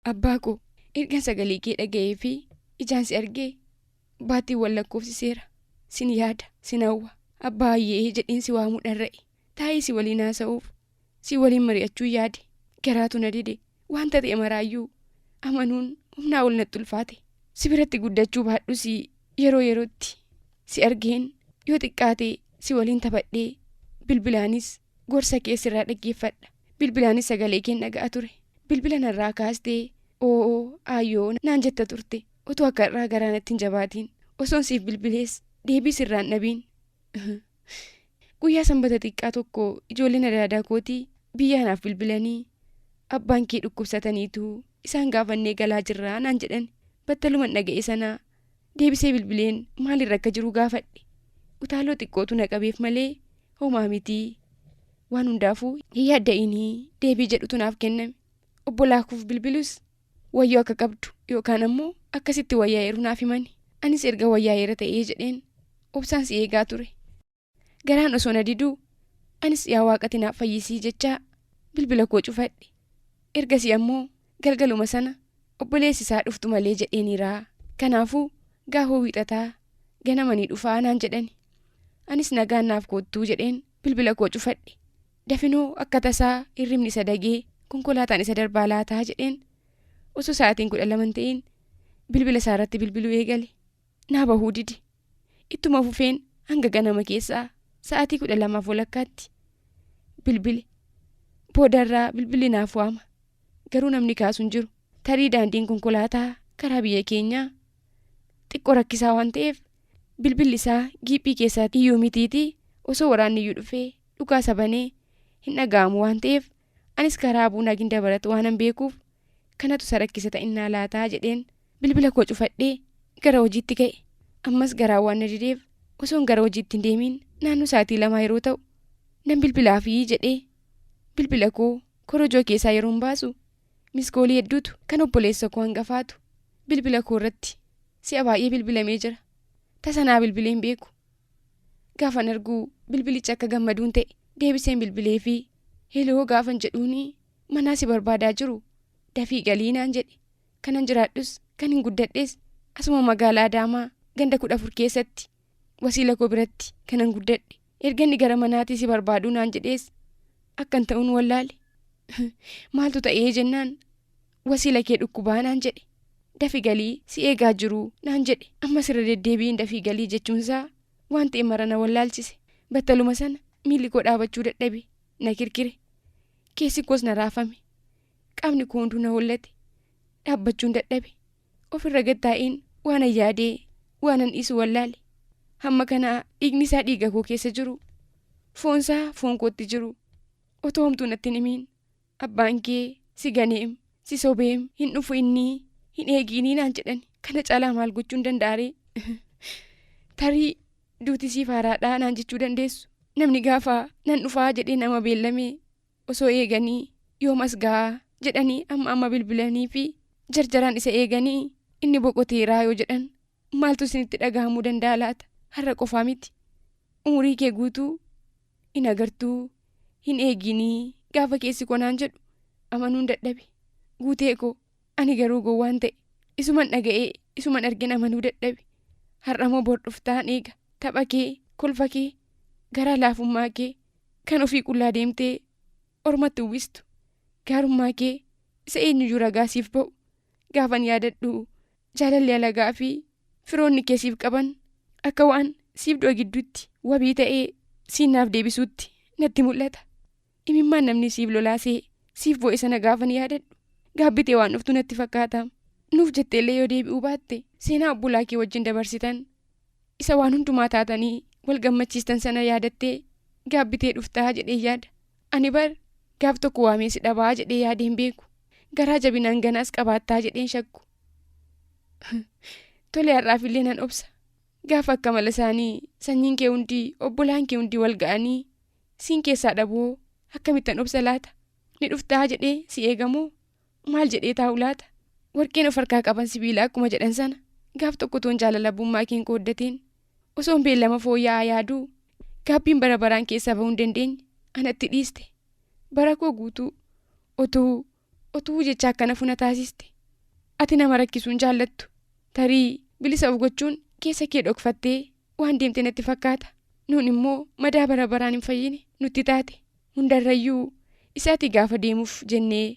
Abbaa koo, ergan sagalee kee dhaga'ee fi ijaan si argee baatiiwwan lakkoofsiseera. Sin yaada, sin hawwa. Abbaa Hayyee jedheen si waamuu dharra'e. Taa'ee si waliin haasa'uuf, si waliin mari'achuun yaade. Garaatu na dide. Wanta ta'e maraayyuu amanuun humnaa ol natti ulfaate. Si biratti guddachuu baadhus yeroo yerootti si argeen yoo xiqqaate si waliin taphadhee bilbilaanis Gorsa kee sirraa dhaggeeffadha. Bilbilaanis sagalee keen dhaga'a ture. Bilbila narraa kaastee oo'oo aayyoo naan jetta turte. Otoo akka har'aa garaa natti hin jabaatiin. Osoon siif bilbilees deebii sirraa hin dhabiin. Guyyaa sanbata xiqqaa tokko ijoolleen adaadaa kootii biyyaa naaf bilbilanii abbaan kee dhukkubsataniitu isaan gaafannee galaa jirraa naan jedhan. Battaluman dhaga'e sanaa Deebisee bilbileen maalirra akka jiru gaafadhe. Utaaloo xiqqootu na qabeef malee homaa miti. Waan hundaafuu hin yaadda'inii deebii jedhutu naaf kenname. Obbolaakuuf bilbilus wayyoo akka qabdu yookaan ammoo akkasitti wayyaa'eeru naaf himani. Anis erga wayyaa'eera ta'ee jedheen obsaan si eegaa ture. Garaan osoo na diduu anis yaa waaqati naaf fayyisii jechaa bilbila koo cufadhe. Ergasii ammoo galgaluma sana obboleessi isaa dhuftu malee jedheeniiraa. Kanaafuu gaafoo wiixataa ganama ni dhufaa naan jedhani. Anis nagaan naaf koottuu jedheen bilbila koo cufadhe. Dafinoo akka tasaa hirribni isa dagee konkolaataan isa darbaa laataa jedheen osoo sa'aatiin kudha lama hin ta'iin bilbila isaa irratti bilbiluu eegale. naa bahuu dide. Ittuma fufeen hanga ganama keessaa sa'aatii kudha lamaaf walakkaatti bilbile. Boodarraa bilbilli naaf waama. Garuu namni kaasu hin jiru. Tarii daandiin konkolaataa karaa biyya keenyaa xiqqoo rakkisaa waan ta'eef bilbilli isaa giiphii keessaatti iyyuu mitiitii osoo waraanni iyyuu dhufee dhukaasa banee hin dhaga'amu waan ta'eef Anis karaa Abuu Naagin Dabarat waanan beekuuf kanatu isa rakkisa ta'innaa laataa jedheen bilbila koo cufadhee gara hojiitti ka'e. Ammas garaan waan na dideef osoon gara hojiitti hin deemiin naannoo sa'aatii lamaa yeroo ta'u nan bilbilaafii jedhee bilbila koo korojoo keessaa yeroon baasu miskoolii hedduutu kan obboleessa koo hangafaatu bilbila koo irratti si'a baay'ee bilbilamee jira. Tasa naa bilbilee hin beeku. Gaafan argu bilbilicha akka gammaduun ta'e deebiseen bilbilee fi heloo gaafan jedhuun manaa si barbaadaa jiru dafii galii naan jedhe kanan jiraadhus kan hin guddadhes asuma magaalaa Adaamaa ganda kudha afur keessatti wasiila koo biratti kanan guddadhe erga inni gara manaatii si barbaaduu naan jedhees akkan ta'uun wallaale maaltu ta'ee jennaan wasiila kee dhukkubaa naan jedhe. Dafi galii si eegaa jiruu naan jedhe. Ammas irra deddeebiin dafii galii jechuun isaa waan ta'e mara na wallaalchise. Battaluma sana miilli koo dhaabachuu dadhabe. Na kirkire. Keessi koos na raafame. Qaamni koo hunduu na hollate. Dhaabbachuun dadhabe. Ofirra gad taa'een waanan yaadee waanan dhiisu wallaale. Hamma kana dhiigni isaa dhiiga koo keessa jiru. Foon isaa foon kootti jiru. Otoo homtuu natti hin himiin. Abbaan kee si ganeem, si sobeem, hin dhufu inni, hin eegiinii naan jedhani. Kana caalaa maal gochuun danda'a ree? Tarii duuti siif haaraadhaa naan jechuu dandeessu. Namni gaafa nan dhufaa jedhee nama beellame osoo eeganii yoom as ga'a jedhanii amma amma bilbilanii fi jarjaraan isa eeganii inni boqoteeraa yoo jedhan maaltu isinitti dhagahamuu danda'a laata? Har'a qofaa miti. Umurii kee guutuu in agartuu hin eegiinii gaafa keessi koo naan jedhu amanuun dadhabe guutee koo ani garuu gowwaan ta'e isuman dhaga'ee isuman argin amanuu dadhabe har'amoo bor dhuftaan eega tapha kee kolfa kee garaa laafummaa kee kan ofii qullaa deemtee ormatti uwwistu gaarummaa kee isa eenyuyyuu ragaa siif ba'u gaafan yaadadhu Jaalalli alagaa fi firoonni kee siif qaban akka waan siif du'a gidduutti wabii ta'ee siin naaf deebisuutti natti mul'ata. Imimmaan namni siif lolaasee siif boo'e sana gaafan yaadadhu gaabbitee waan dhuftu natti fakkaata. Nuuf jetteellee yoo deebi'uu baatte seenaa obbolaa kee wajjin dabarsitan Isa waan hundumaa taatanii wal gammachiistan sana yaadattee gaabbitee dhuftaa jedheen yaada. Ani bar gaaf tokko waamee si dhabaa jedhee yaadee hin beeku. Garaa jabina hanganaas qabaattaa jedheen shakku. Tole har'aaf illee nan obsa. Gaafa akka mala isaanii sanyiin kee hundi obbolaan kee hundi wal ga'anii siin keessaa dhabuhoo akkamittan obsa laata? Ni dhuftaa jedhee si eegamoo? Maal jedhee taa'u laata? Warqeen of harkaa qaban sibiila akkuma jedhan sana gaaf tokko toon jaalala abbummaa keen qooddateen osoon beellama fooyya'aa yaaduu gaabbiin bara baraan keessaa bahuu hin dandeenye anatti dhiiste. Bara koo guutuu otuu otuu jecha akkana funa taasiste. Ati nama rakkisuu hin jaallattu. Tarii bilisa of gochuun keessa kee dhokfattee waan deemte natti fakkaata. Nuun immoo madaa bara baraan hin fayyine nutti taate. Hundarrayyuu isa ati gaafa deemuuf jennee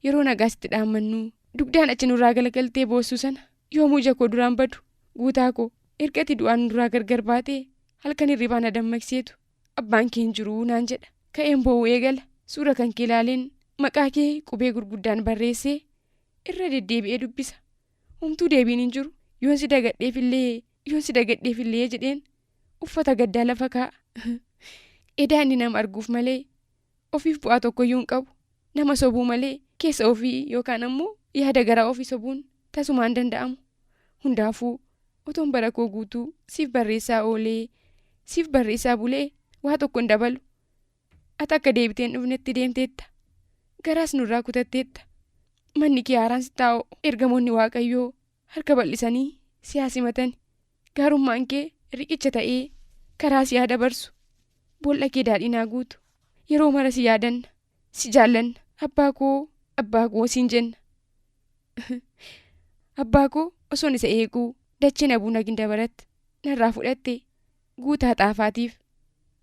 yeroo nagaa sitti dhaammannu dugdaan achi nurraa galagaltee boossuu sana yoomuu ija koo duraan badu Guutaa koo erga ati du'aan nurraa gargar baatee halkan hirribaa na dammaqseetu abbaan kee hin jiru naan jedha ka'een boo'uu eegala suura kan kee ilaaleen maqaa kee qubee gurguddaan barreessee irra deddeebi'ee dubbisa homtuu deebiin hin jiru yoon si dagadheefillee yoon si dagadheefillee jedheen uffata gaddaa lafa kaa'a. Edaa inni nama arguuf malee ofiif bu'aa tokkoyyuu hin qabu. Nama sobuu malee keessa ofii yookaan ammoo yaada garaa ofii sobuun tasumaa hin danda'amu. Hundaafuu otoon bara koo guutuu siif barreessaa oolee, siif barreessaa bulee waa tokko hin dabalu. Ati akka deebitee hin dhufnetti deemteetta. Garaas nurraa kutatteetta. Manni kee haaraan sitti haa ho'u. Ergamoonni Waaqayyoo harka bal'isanii si haa simatani. Gaarummaan kee riqicha ta'ee karaa si haa dabarsu. Bool'a kee daadhiin haa guutu. Yeroo mara si yaadanna. Si jaallanna. Abbaa koo, abbaa koo siin jenna. abbaa koo osoon isa eeguu dacheen abuuna gindabarat narraa fudhatte guutaa xaafaatiif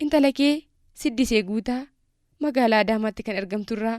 intala kee siddisee guutaa magaalaa adaamaatti kan argamturraa